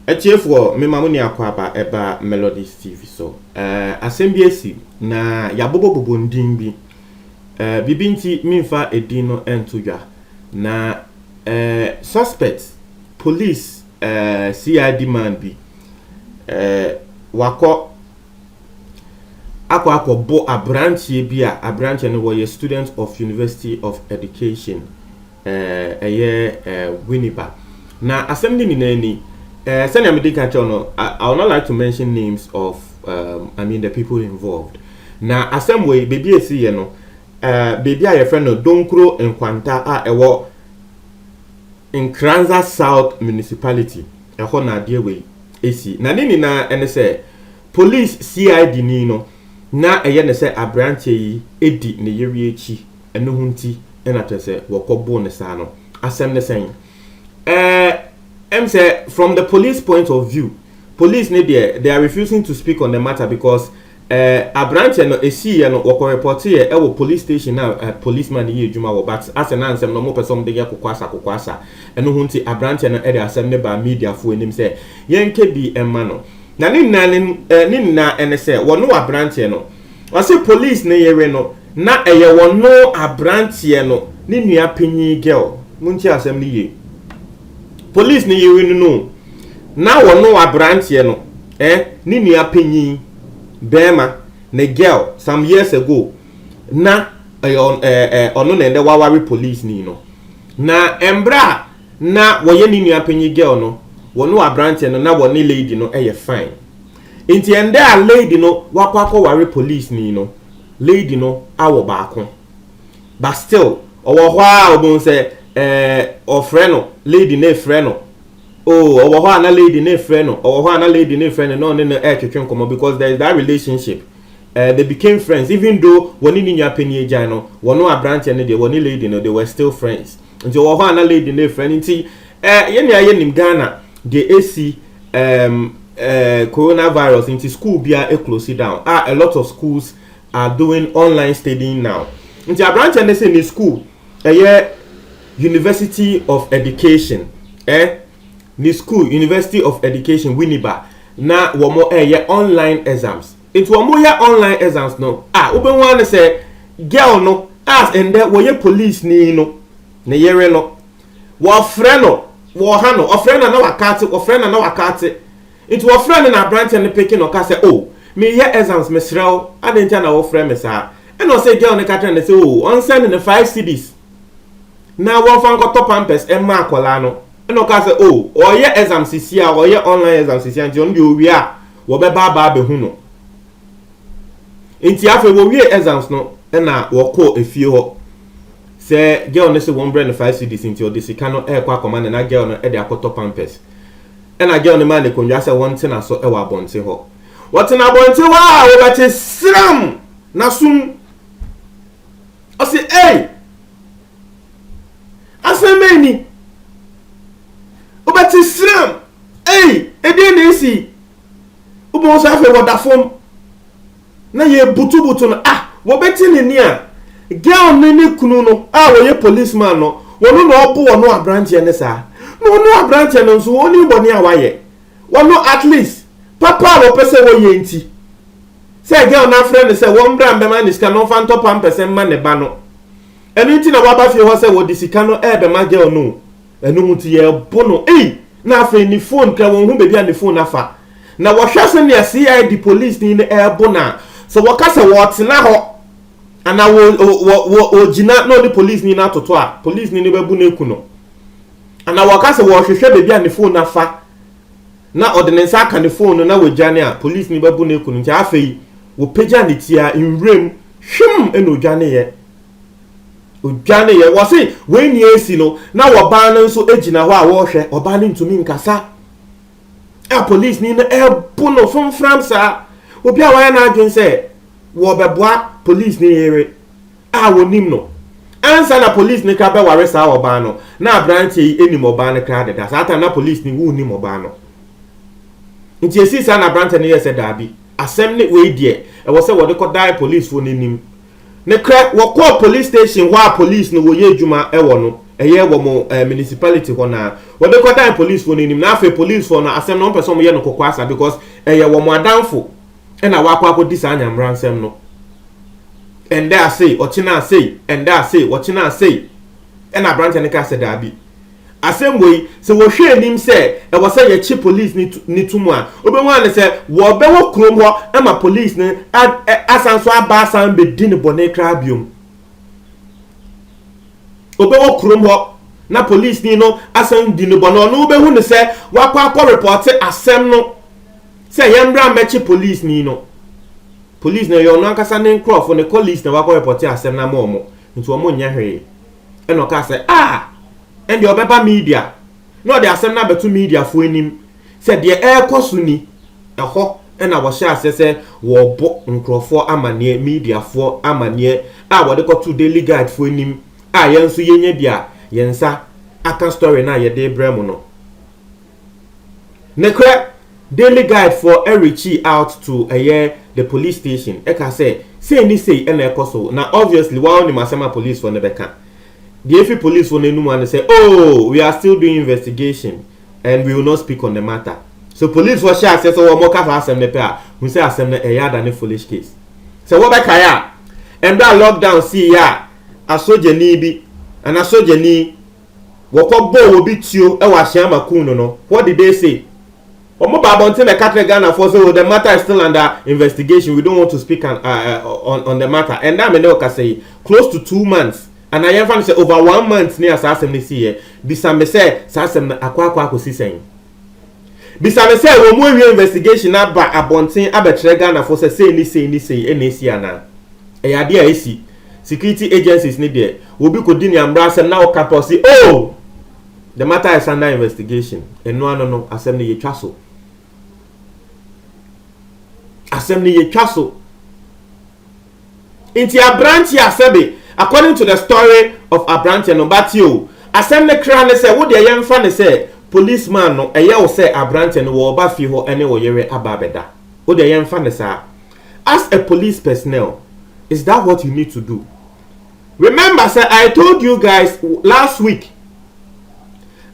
atiefoɔ mema mo ne akwaaba ɛba melodies tv so uh, asɛm bi asi na yɛabobɔbobɔ ndin bi uh, biribi nti memfa edin no ɛnto dwa na uh, suspect police uh, cid man bi uh, wakɔ akɔ akɔbɔ aberanteɛ bi a aberanteɛ no wɔyɛ student of University of Education ɛyɛ Winneba na asɛm no nyinaa ni sɛnea mede ka kyɛw no I would not like to mention names of um, I mean the people involved na asɛm wɔ yi baabi a ɛsi yɛ no baabi a yɛfrɛ no Donkuro Nkwanta a ɛwɔ Nkranza South Municipality ɛhɔ na adeɛ wɔ yi si. Na ne nyinaa ne sɛ polis CID ni no na ɛyɛ no sɛ aberanteɛ yi di ne yere akyi, ɛno ho nti na kyerɛ sɛ wɔkɔ boo no saa no. Asɛm ne sɛn? Ɛɛ, ɛm sɛ from the police point of view, police ne deɛ they are refusing to speak on the matter because Eh, abranteɛ no ɛsiiyɛ no wɔkɔ repɔteeɛ ɛwɔ police station a eh, police man no yɛ adwuma wɔ but asɛ na nsɛm no ɔmo pɛ sɛ ɔmo de yɛ kokoasa kokoasa ɛno ho nti abranteɛ no ɛde asɛm no baa media foɔ anim sɛ yɛnkɛ bi ɛma no na ne nyinaa ne eh, ne nyinaa ɛne sɛ wɔno abranteɛ no ɔse police no yere no na ɛyɛ wɔno abranteɛ no ne nua panyin girl mo nti asɛm no yie police no yere no no na wɔno abranteɛ no Eh ne nua panyin bɛɛma ne girl some years ago na ɛyɛ eh, eh, ɔno na ɛndɛ waware police ni no na ɛmbrɛ a na wɔyɛ ne nua panyin girl no wɔne wɔ aberanteɛ no na wɔne lady no ɛyɛ fine nti ɛndɛ a lady no wakɔ akɔware police ni no lady no awɔ baako but still ɔwɔ hɔ a ɔbɛn sɛ ɛɛ eh, ɔfrɛ no lady no efrɛ no Oh, ɔwɔ hɔ a na lady no refrɛ no, ɔwɔ hɔ a na lady no refrɛ no na ɔne no retwetwe nkɔmmɔ because there is that relationship. Uh, they became friends even though wɔne ne nua panyin agyan no, wɔne aberanteɛ no deɛ, wɔne lady no, they were still friends. Nti ɔwɔ hɔ a na lady no refrɛ no nti, uh, yɛne ayɛ nim Ghana deɛ ɛsi um, uh, coronavirus nti school biara ɛclose down a, a lot of schools are doing online studying now. Nti aberanteɛ no sɛ ne school Ɛyɛ University of Education ɛ ne school University of Education Winneba na wɔn ɛyɛ online exams nti wɔn yɛ online exams no a wobɛhu ara ne sɛ girl no a ɛndɛ wɔyɛ police ni no ne yere no wɔfrɛ no wɔha no ɔfrɛ na na wakate wɔfrɛ na na wakate Nti wɔfrɛ no na abranteɛ no peke no ka sɛ oh mereyɛ exams mesrɛ wo adɛn ntia na wofrɛ me saa ɛna ɔsɛ girl no ka kyerɛ no sɛ oh ɔnsɛne no five cedis na wɔmfa nkɔtɔ pampers ɛmma akwadaa no ɛna ɔka sɛ oh ɔreyɛ exams sisi a ɔreyɛ online exams sisi a nti ɔno deɛ ɔwie a wɔbɛba aba abɛhu no nti afei wɔwie exams no ɛna wɔkɔ efie hɔ sɛ girl no sɛ wɔmbrɛ no five cedis nti ɔde sika no ɛrekɔ akɔma no na girl no ɛde akɔtɔ pampers Ɛnna John maa no akonnwa sɛ wɔntena so wɔ abɔnten hɔ. Wɔtena abɔnten hɔ a, wɔbɛte sram na sum. Ɔse, Ei! Asɛm bɛn ni? Wobɛte sram! Ei! Ɛdeɛn na ɛsi? Wobɛhu sɛ afei wɔda fam. na yɛbutubutu no ah wɔbɛti ne nne a girl ne ne kunu no a wɔyɛ police man no wɔno na ɔbo wɔno aberanteɛ ne saa na wɔno aberanteɛ no nso wɔni bɔne a wayɛ wɔno at least papa a wɔpɛ sɛ wɔyɛ nti sɛ girl no afrɛ no sɛ wɔn mbra mbɛma ne sika na ɔmfa ntɔ pampɛsɛ mma ne ba no ɛno nti na waba fie hɔ sɛ wɔde sika no ɛɛbɛma girl no Ɛno mu nti yɛbo no ei! Na afei ne phone kra wɔnhu baabi a ne phone afa. Na wɔhwɛ sɛnea CID polisini no rebo no a, sɛ wɔka sɛ wɔtena hɔ anaa wɔ wɔ wɔ ogyina na ɔne polisini no atoto a, polisini no bɛbu no aku no. Anaa wɔka sɛ wɔrehwehwɛ baabi a ne phone afa na ɔde ne nsa aka ne phone no na wɔadwane a, polisini bɛbu no aku no. Nti afei wɔpagya ne ti a nwuram hwim na odwaneeɛ Ɔdwaneeɛ. Wɔse wei nea ɛresi no, na ɔbaa no nso gyina hɔ a ɔrehwɛ. Ɔbaa no ntumi nkasa a polisini no rebu no fomfram saa. Obi a wayɛ n'adwene sɛ wɔbɛboa polisini yere a ɔnim no. Ansa na polisini koraa bɛware saa ɔbaa no, na aberanteɛ yi nim ɔbaa no koraa deda. Saa ta na polisini wonnim ɔbaa no. Nti ɛsii saa na aberanteɛ no yɛɛ sɛ daabi, asɛm ne wei deɛ, ɛwɔ sɛ wɔde kɔdae polisfoɔ no anim Nokorɛ wɔkɔɔ police station hɔ a police no wɔyɛ adwuma wɔ no, ɛyɛ wɔn eh, municipality hɔ naa wɔde kɔdan policefoɔ no anim na afei policefoɔ no asɛm no wɔmpɛ sɛ wɔyɛ no kɔkɔɔ asa because ɛyɛ wɔn adamfo ɛna wakɔ akɔdi saa nyamera nsɛm no ɛndɛ asei ɔkyena asei ɛndɛ asei ɔkyena asei ɛna aberanteɛ no kaa sɛ daabi Asɛm wei, sɛ wɔhwɛ anim sɛ ɛwɔ sɛ yɛkye polis no no to mu a, wobɛhu ara ne sɛ wɔbɛwɔ kurom hɔ ma polis no a, ɛ, asan so aba asan bɛdi no bɔne koraa biom. Wɔbɛwɔ kurom hɔ na polisni no asan di no bɔne, ɔno wobɛhu no sɛ wakɔ akɔ repɔte asɛm no sɛ yɛmmra mmɛkye polisni no. Polis no ɛyɛ ɔno ankasa ne nkurɔfo, ne colleagues na wakɔ repɔte asɛm no ama wɔn, nti wɔn nyɛ hwee. ɛna ɔkaa sɛ ah ɛndeɛ ɔbɛba media na ɔde asɛm no abɛto mediafoɔ anim sɛ deɛ ɛrekɔ so ni ɛhɔ ɛna wɔhyɛ aseɛ sɛ wɔrebɔ nkurɔfoɔ amanneɛ mediafoɔ amanneɛ a wɔde kɔto daily guide foɔ anim a yɛn nso yɛnya bi a yɛn nsa aka story no a yɛde brɛ mo no Nokorɛ, Daily Guide foɔ reachii out to ɛyɛ the police station ka sɛ sei ne sei na ɛkɔ so na obviously woa wonim asɛm a police foɔ no bɛka. Deɛ ɛfiri police foɔ no anum ara ne sɛ ooh we are still doing investigation and we will not speak on the matter. So police foɔ hyɛ aseɛ sɛ wɔka saa asɛm no pɛ a hu sɛ asɛm no ɛyɛ adane foolish case. Sɛ wobɛkae a mberɛ a lockdown siiɛ a asogyani bi anaa sogyani Wɔkɔbɔɔ obi tuo wɔ Ahyɛama Kuw no no, what did they say? Wɔn baa abɔnten bɛka kyerɛɛ Ghanafoɔ sɛ oh the matter is still under investigation we don't want to speak an, uh, uh, on, on the matter. Ɛnda a me ne wo kasa yi, close to two months anaa yɛmfa no sɛ over one month ni a saa asɛm no siiɛ. Bisa me sɛ saa asɛm no akɔ akɔ akɔsi sɛn? Bisa no sɛ wɔn awie investigation no aba abɔnten abɛkyerɛ Ghanafoɔ sɛ sei ne sei ne sei na ɛsi anaa? Ɛyɛ adeɛ a ɛsi. Security agencies no deɛ, obi kɔdi ne ammra asɛm na ɔka pɛ ɔse oh! The matter is under investigation. Ɛno ano no, asɛm no yɛtwa so. Asɛm no yɛtwa so. Nti abranteɛ a sɛbe according to the story of abranteɛ no but o asɛm no kra ne sɛ wodeɛ yɛnfa no sɛ police man no ɛyɛ wo sɛ abranteɛ no wɔ ba fie hɔ ɛne wo yere aba abɛda wodeɛ yɛnfa no saa as a police personnel is that what you need to do remember sɛ I told you guys last week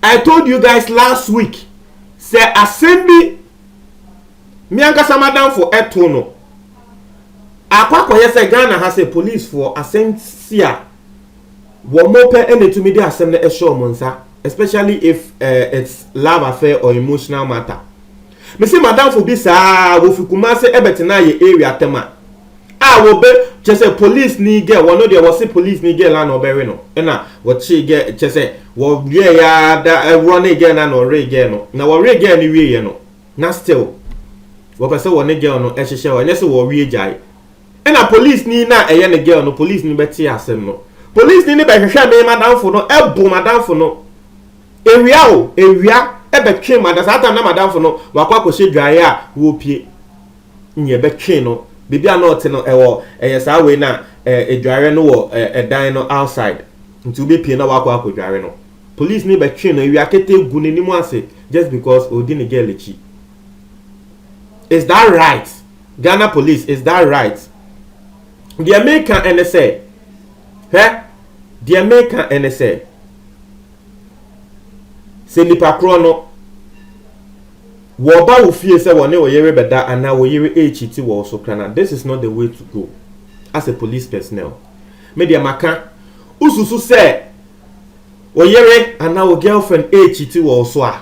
I told you guys last week sɛ asɛm bi me ankasa madamfo ɛto no Akɔ akɔyɛ sɛ Ghana ha sɛ policefoɔ asɛm si a, wɔn pɛ na ɛtumi de asɛm no hyɛ wɔn nsa especially if uh, it's love affair or emotional matter. Me se madamfo bi saa wɔfi Kumase ɛbɛtena yɛ area tɛm a a wɔbɛ kyɛ sɛ police ni girl wɔn deɛ wɔse police ni girl na ɔbɛwe no ɛna wɔkye girl kyɛ sɛ wɔyɛ ya da ɛwɔ ne girl na na ɔwe girl no na wɔwe girl no wie yɛ no na still wɔpɛ sɛ wɔne girl no hyehyɛ hɔ, ɛnyɛ sɛ wɔwie gyae. Ɛna polisini no a ɛyɛ ne girl no, polisini no bɛtee asɛm no. Polisini no bɛhwehwɛ me madamfo no, ɛbo madamfo no. Awia o, awia ɛbɛtwe madam, saa time na madamfo no wakɔ akɔhyɛ dwaeɛ a wɔpie. Nyi ɛbɛtwe no, baabi a na ɔte no ɛwɔ ɛyɛ saa wei na ɛdwaeɛ no wɔ ɛdan no outside. Nti wobɛpie na wakɔ akɔdware no. Police ni bɛtwee no awia ketee gu n'anim ase just because ɔredi ne girl akyi. Is that right? Ghana police is that right? Deɛ meka ɛne sɛ, hwɛ, deɛ meka ɛne sɛ, sɛ nipa korɔ no wɔba wo fie sɛ wɔne wo yere bɛda anaa wo yere ɛrekyiti wɔ wo so krana, this is not the way to go as a police personnel. Me deɛ maka, wosusu sɛ Wo yere anaa wo girlfriend rekyiti wɔ wo so a,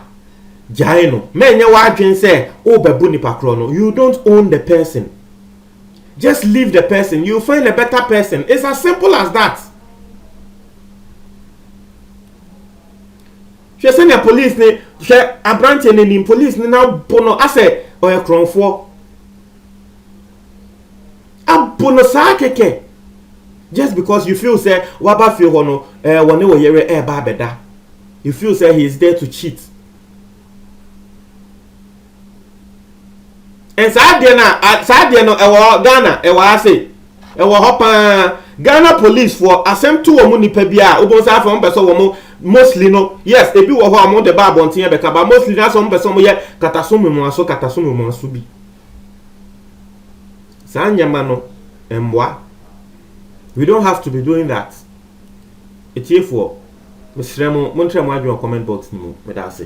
gyae no. Ma ɛnyɛ w'adwene sɛ worebɛbo nipa korɔ no. You don't own the person. Just leave the person. You find a better person. It's as simple as that. hwɛ sɛnea police ne hwɛ aberanteɛ no anim police ne n'abo no asɛ ɔyɛ korɔnfoɔ abu no saa kɛkɛ just because you feel sɛ waba fie hɔ no ɛɛ wɔne wɔ yere ɛɛba abɛda you feel sɛ he is there to cheat and saa deɛ no a saa deɛ no ɛwɔ ghana ɛwɔ ase ɛwɔ hɔ paa ghana police foɔ asɛm to wɔn nipa bi a wobɛn sɛ afei wɔn pɛ sɛ wɔn mostly no yes ebi wɔ hɔ a wɔn de ba abɔnten bɛka ba mostly no asɛ wɔn pɛ sɛ wɔn yɛ kataso mmuaso kataso mmuaso bi. saa nneɛma no mmoa we don't have to be doing that etiefoɔ mesrɛ mo montrɛ mo adwene wɔ comment box no mu meda ase